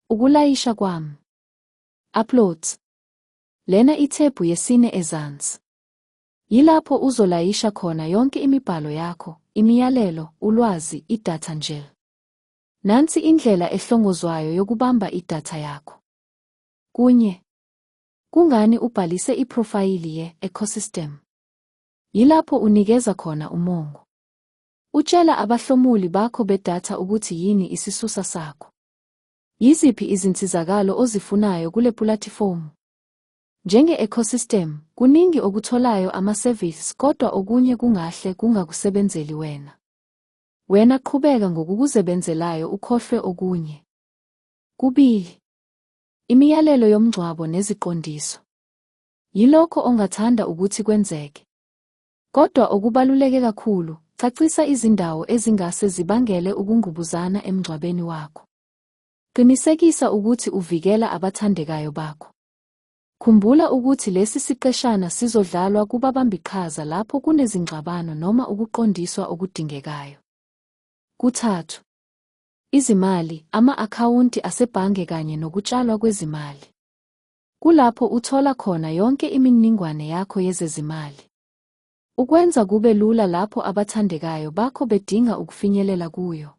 Ukulayisha kwami. Uploads. Lena ithebhu yesine ezansi. Yilapho uzolayisha khona yonke imibhalo yakho, imiyalelo, ulwazi, idatha njll. Nansi indlela ehlongozwayo yokubamba idatha yakho. Kunye. Kungani ubhalise iphrofayili ye-ecosystem? Yilapho unikeza khona umongo. Utshela abahlomuli bakho bedatha ukuthi yini isisusa sakho. Yiziphi izinsizakalo ozifunayo kule pulatifomu? Njenge-ecosystem, kuningi okutholayo ama-service kodwa okunye kungahle kungakusebenzeli wena. Wena qhubeka ngokukuzebenzelayo ukhohlwe okunye. Kubili. Imiyalelo yomngcwabo neziqondiso. Yilokho ongathanda ukuthi kwenzeke. Kodwa okubaluleke kakhulu, cacisa izindawo ezingase zibangele ukungqubuzana emngcwabeni wakho. Qinisekisa ukuthi uvikela abathandekayo bakho. Khumbula ukuthi lesi siqeshana sizodlalwa kubabambiqhaza lapho kunezingxabano noma ukuqondiswa okudingekayo. Kuthathu. Izimali, ama-akhawunti asebhange kanye nokutshalwa kwezimali. Kulapho uthola khona yonke imininingwane yakho yezezimali. Ukwenza kube lula lapho abathandekayo bakho bedinga ukufinyelela kuyo.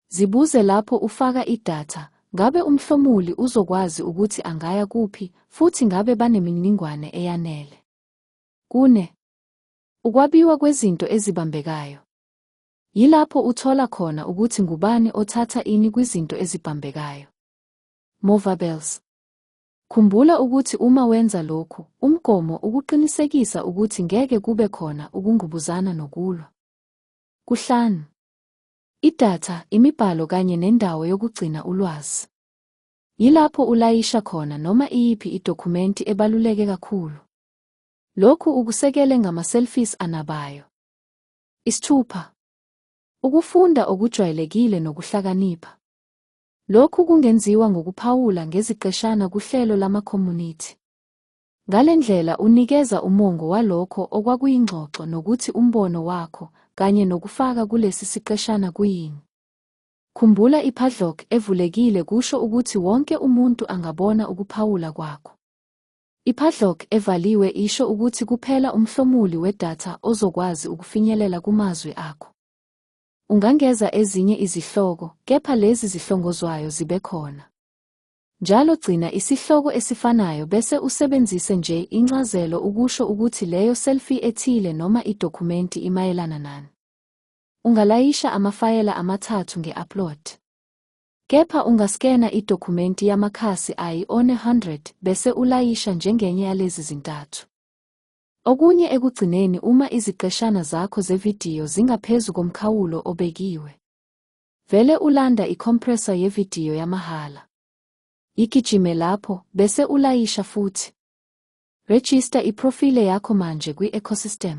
Zibuze lapho ufaka idatha, ngabe umhlomuli uzokwazi ukuthi angaya kuphi futhi ngabe banemininingwane eyanele. Kune. Ukwabiwa kwezinto ezibambekayo. Yilapho uthola khona ukuthi ngubani othatha ini kwizinto ezibambekayo. Movables. Khumbula ukuthi uma wenza lokhu, umgomo ukuqinisekisa ukuthi ngeke kube khona ukungubuzana nokulwa. Kuhlanu. Idatha, imibhalo kanye nendawo yokugcina ulwazi. Yilapho ulayisha khona noma iyiphi idokhumenti ebaluleke kakhulu. Lokhu ukusekele ngama-selfies anabayo. Isithupha. Ukufunda okujwayelekile nokuhlakanipha. Lokhu kungenziwa ngokuphawula ngeziqeshana kuhlelo lamakhomunithi. Ngale ndlela unikeza umongo walokho okwakuyingxoxo nokuthi umbono wakho kanye nokufaka kulesi siqeshana kuyini. Khumbula i-padlock evulekile kusho ukuthi wonke umuntu angabona ukuphawula kwakho. I-padlock evaliwe isho ukuthi kuphela umhlomuli wedatha ozokwazi ukufinyelela kumazwi akho. Ungangeza ezinye izihloko, kepha lezi zihlongozwayo zibe khona. Njalo gcina isihloko esifanayo bese usebenzise nje incazelo ukusho ukuthi leyo selfie ethile noma idokhumenti imayelana nani. Ungalayisha amafayela amathathu nge-upload. Kepha ungaskena idokhumenti yamakhasi ayi-100 bese ulayisha njengenye yalezi zintathu. Okunye ekugcineni uma iziqeshana zakho zevidiyo zingaphezu komkhawulo obekiwe. Vele ulanda i-compressor yevidiyo yamahhala. Yigijime lapho, bese ulayisha futhi. Rejista iprofile yakho manje kwi-ecosystem.